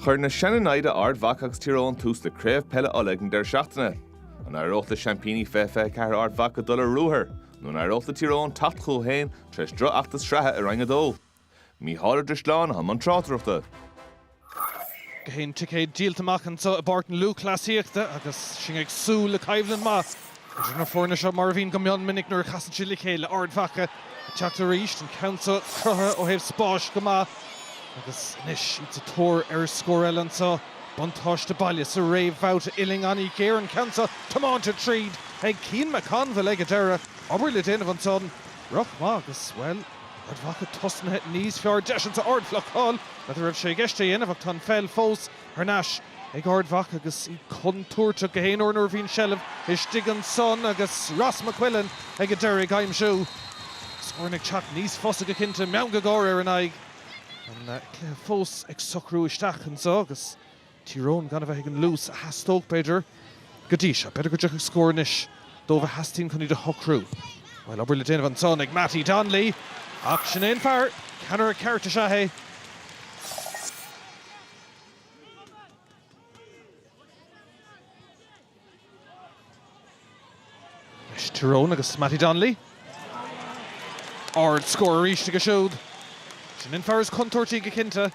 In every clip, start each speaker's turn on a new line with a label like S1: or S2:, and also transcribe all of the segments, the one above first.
S1: Chuir na seanionaid Ard Mhacha agus Tír Eoghain tús le Craobh Peile Uladh ag an deireadh seachtaine. An éireodh le seaimpíní fiche ceathair Ard Mhacha dul ar ruathar nó an éireodh le Tír Eoghain teacht chucu féin tar éis drochfheachtas sraithe i Roinn a Dó? Mícheál Ó Drisleáin i mbun tráchtaireachta.
S2: Gach aon ticéad díolta amach anseo i bPáirc na Lúthchleasaíochta agus sinn ag súil le coimhlint mhaith idir na foirne seo, mar a bhíonn go mion minic nuair a chasann siad le chéile. Ard Mhacha ag teacht arís, an ceann seo cruthaithe ó thaobh spáis go maith agus anois iad sa tóir ar scór eile anseo. Buntáiste baile sa réamhbhabhta uillinn an-ghéar, an ceann seo tiomáinte tríd ag Cian McConville ag an deireadh. Obair le déanamh ansan, ró-mhaith agus, bhuel, Ard Mhacha tosnaithe níos fearr deis anso ard bhlocáil n'fheadar an raibh sé i gceist é a dhéanamh ach tá an pheil fós thar n-ais ag Ard Mhacha agus iad contúirteach gach aon uair nuair a bhíonn seilbh istigh ansan agus Ross McQuillan ag an deireadh ag aimsiú scóranna ag teacht níos fusa go cinnte meangadh gáire ar a n-aghaidh an cluiche fós ag socrú isteach anseo agus Tír Eoghain gan a bheith ag an luas a theastódh, b'fhéidir, go dtí seo. B'fhéidir go dtiocfadh scór anois dóibh a theastaíonn chun iad a shocrú. Bhuel, obair le déanamh ansan ag Mattie Donnelly. Ach sin é an fear. Ceannaire ceart is ea é. Leis Tír Eoghain agus Mattie Donnelly. Ard scór arís aige siúd. Sin an fear is contúirtí go cinnte.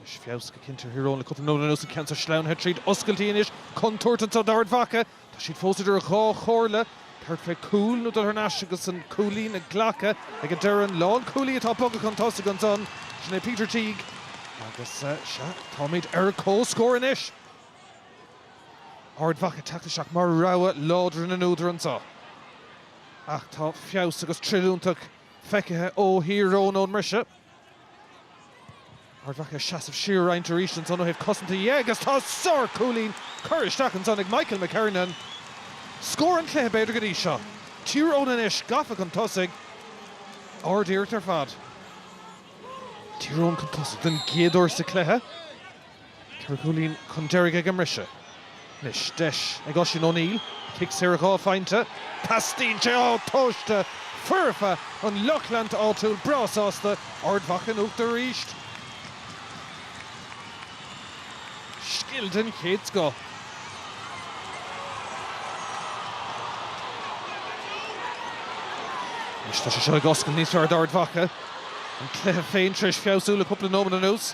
S2: Is feabhas go cinnte Tír Eoghain le cúpla nóiméad anuas an ceann so sleamhnaithe tríd oscailtí anois. Contúirt anso d'Ard Mhacha. Tá siad fós idir dhá chomhairle, tabhairt fé chúl nó dul thar n-ais agus an cúilín a ghlacadh ag an deireadh. An lán-chúlaí atá ag bogadh chun tosaigh ansan, sin é Peter Teague agus sea, táimid ar comhscór anois. Ard Mhacha ag teacht isteach mar rogha láidir na n-údar anso. Ach tá feabhas agus tríúlacht feicthe ó Thír Eoghain ón mbriseadh. Ard Mhacha ag seasamh siar roinnt arís ansan ó thaobh cosanta dhe agus tá sár cúilín curtha isteach ansan ag Michael McKernan. Scór an chluiche b'fhéidir go dtí seo. Tír Eoghain anois gafa chun tosaigh. Ard iarracht ar fad. Tír Eoghain chun tosaigh den gcéad uair sa chluiche. Ceithre chúilín chun deiridh ag an mbriseadh. Anois deis ag Oisín O'Neill cic saor dhá phointe. Postaí aimsithe, atá tomhaiste foirfe, an lucht leanta áitiúil breá sásta. Ard Mhacha in uachtar arís. Scil den chéad scoth. Anois tá sé seo ag oscailt níos fearr d'Ard Mhacha. An cluiche féin tar éis feabhsú le cúpla nóiméad anuas.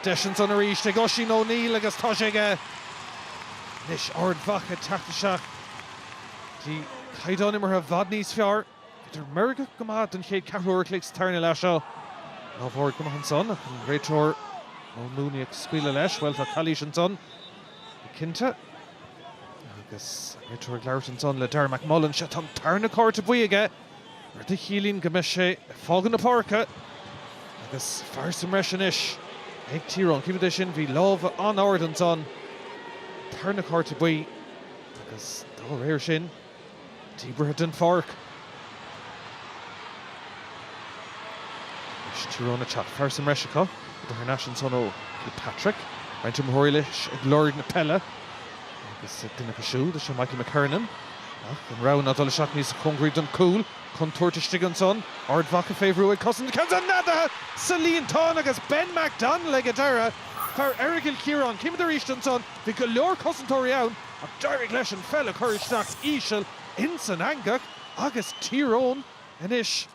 S2: Deis ansan arís ag Oisín O'Neill agus tá sé aige anois Ard Mhacha teacht isteach go dtí caighdeán imeartha i bhfad níos fearr. B'fhéidir meirgeach go maith don chéad ceathrú uair a chloig sa tarna leath seo. Lámh ard go maith ansan ach an réiteoir Noel Mooney ag scaoileadh leis. Bhuel, tá calaois ansan go cinnte agus an réiteoir ag labhairt ansan le Darragh McMullen. Sea, tá an tarna cárta buí aige. rud a chiallaíonn go mbeidh sé ag fágáil na páirce agus fear sa mbreis anois ag Tír Eoghain. Címid é sin, bhí lámha an-ard ansan, tarna cárta buí agus dá réir sin, díbeartha den pháirc. Anois Tír Eoghain ag teacht. Fear sa mbreis acu ag dul thar n-ais ansan ó Kilpatrick. Roinnt iomaitheoirí leis ag lorg na peile agus duine acu siúd is ea Michael McKernan. Ach an rogha ná dul isteach níos cóngaraí don cúl? Contúirt istigh ansan. Ard Mhacha fé bhrú ag cosaint ceann san neadaithe sa líontán agus Ben McDonnell ag an deireadh, fear Aireagal Chiaráin. Címid arís ansan. Bhí go leor cosantóirí ann ach d'éirigh leis an pheil a chur isteach íseal ins an eangach agus Tír Eoghain anois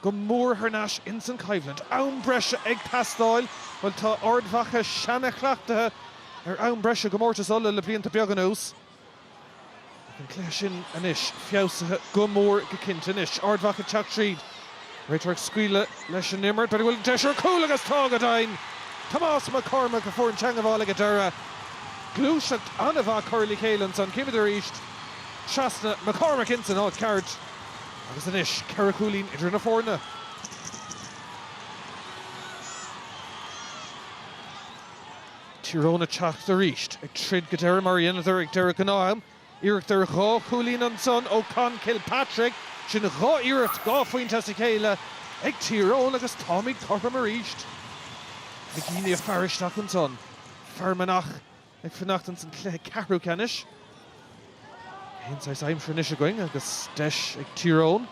S2: go mór thar n-ais ins an choimhlint. Am breise ag teastáil. Bhuel tá Ard Mhacha seana-chleachtaithe ar am breise i gcomórtas Uladh le blianta beaga anuas. Tá an cluiche sin anois feabhsaithe go mór go cinnte. Anois Ard Mhacha ag teacht tríd. Réiteoir ag scaoileadh leis an imirt. B'fhéidir go bhfuil deis ar chúl agus tá go deimhin! Tomás McCormack a fuair an teangabháil ag an deireadh. Gluaiseacht an-mhaith curtha le chéile ansan. Címid arís trasna. McCormack ins an áit cheart. Agus anois ceithre chúilín idir na foirne. Tír Eoghain ag teacht arís, ag troid go deireadh mar a dheineadar ag deireadh gnáth-am, iarracht ar dhá chúilín ansan ó Conn Kilpatrick, sin dhá iarracht dhá phointe as a chéile ag Tír Eoghain agus táimid cothrom arís. McGeeney ag faire isteach ansan, Fear Manach ag fanacht ins an cluiche ceathrú ceannais. Aon saghas aimsir anois againn agus deis ag Tír Eoghain.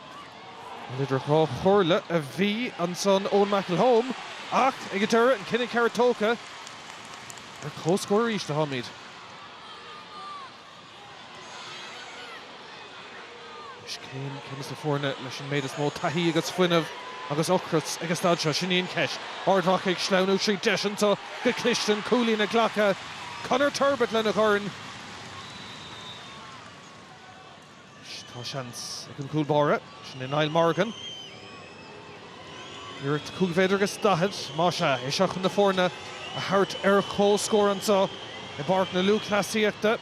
S2: Bhuel idir dhá chomhairle a bhí ansan Eoin McElholm ach ag an deireadh an cinneadh ceart tógtha. Ar comhscór arís a tháimid. Anois cén ceann des na foirne leis an méid is mó taithí agus fuinnimh agus ocras ag an staid seo? Sin í an cheist. Ard Mhacha ag sleamhnú tríd deis ann, tá go cliste an cúilín a ghlacadh. Conor Turbitt lena dhorn. Tá seans ag an gcúl báire, sin é Niall Morgan. Iarracht cúig mhéadar agus daichead, más ea, é seo chun na foirne a thabhairt ar comhscór anseo i bPáirc na Lúthchleasaíochta.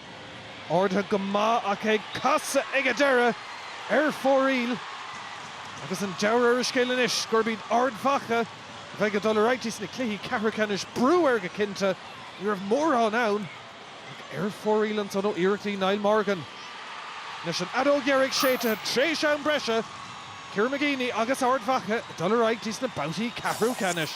S2: Ardaithe go maith ach ag casadh ag an deireadh ar fóraoil. Agus an dealramh ar an scéal anois gurb iad Ard Mhacha a bheidh ag dul ar aghaidh dtí sna cluichí ceathrú ceannais. Brú air go cinnte. Ní raibh mórán ann. Ar fóraoil ansan ó iarrachtaí Niall Morgan anois an fheadóg dheiridh séidte tar éis am breise, Kieran McGeeney agus Ard Mhacha ag dul ar aghaidh dtí sna babhtaí ceathrú ceannais.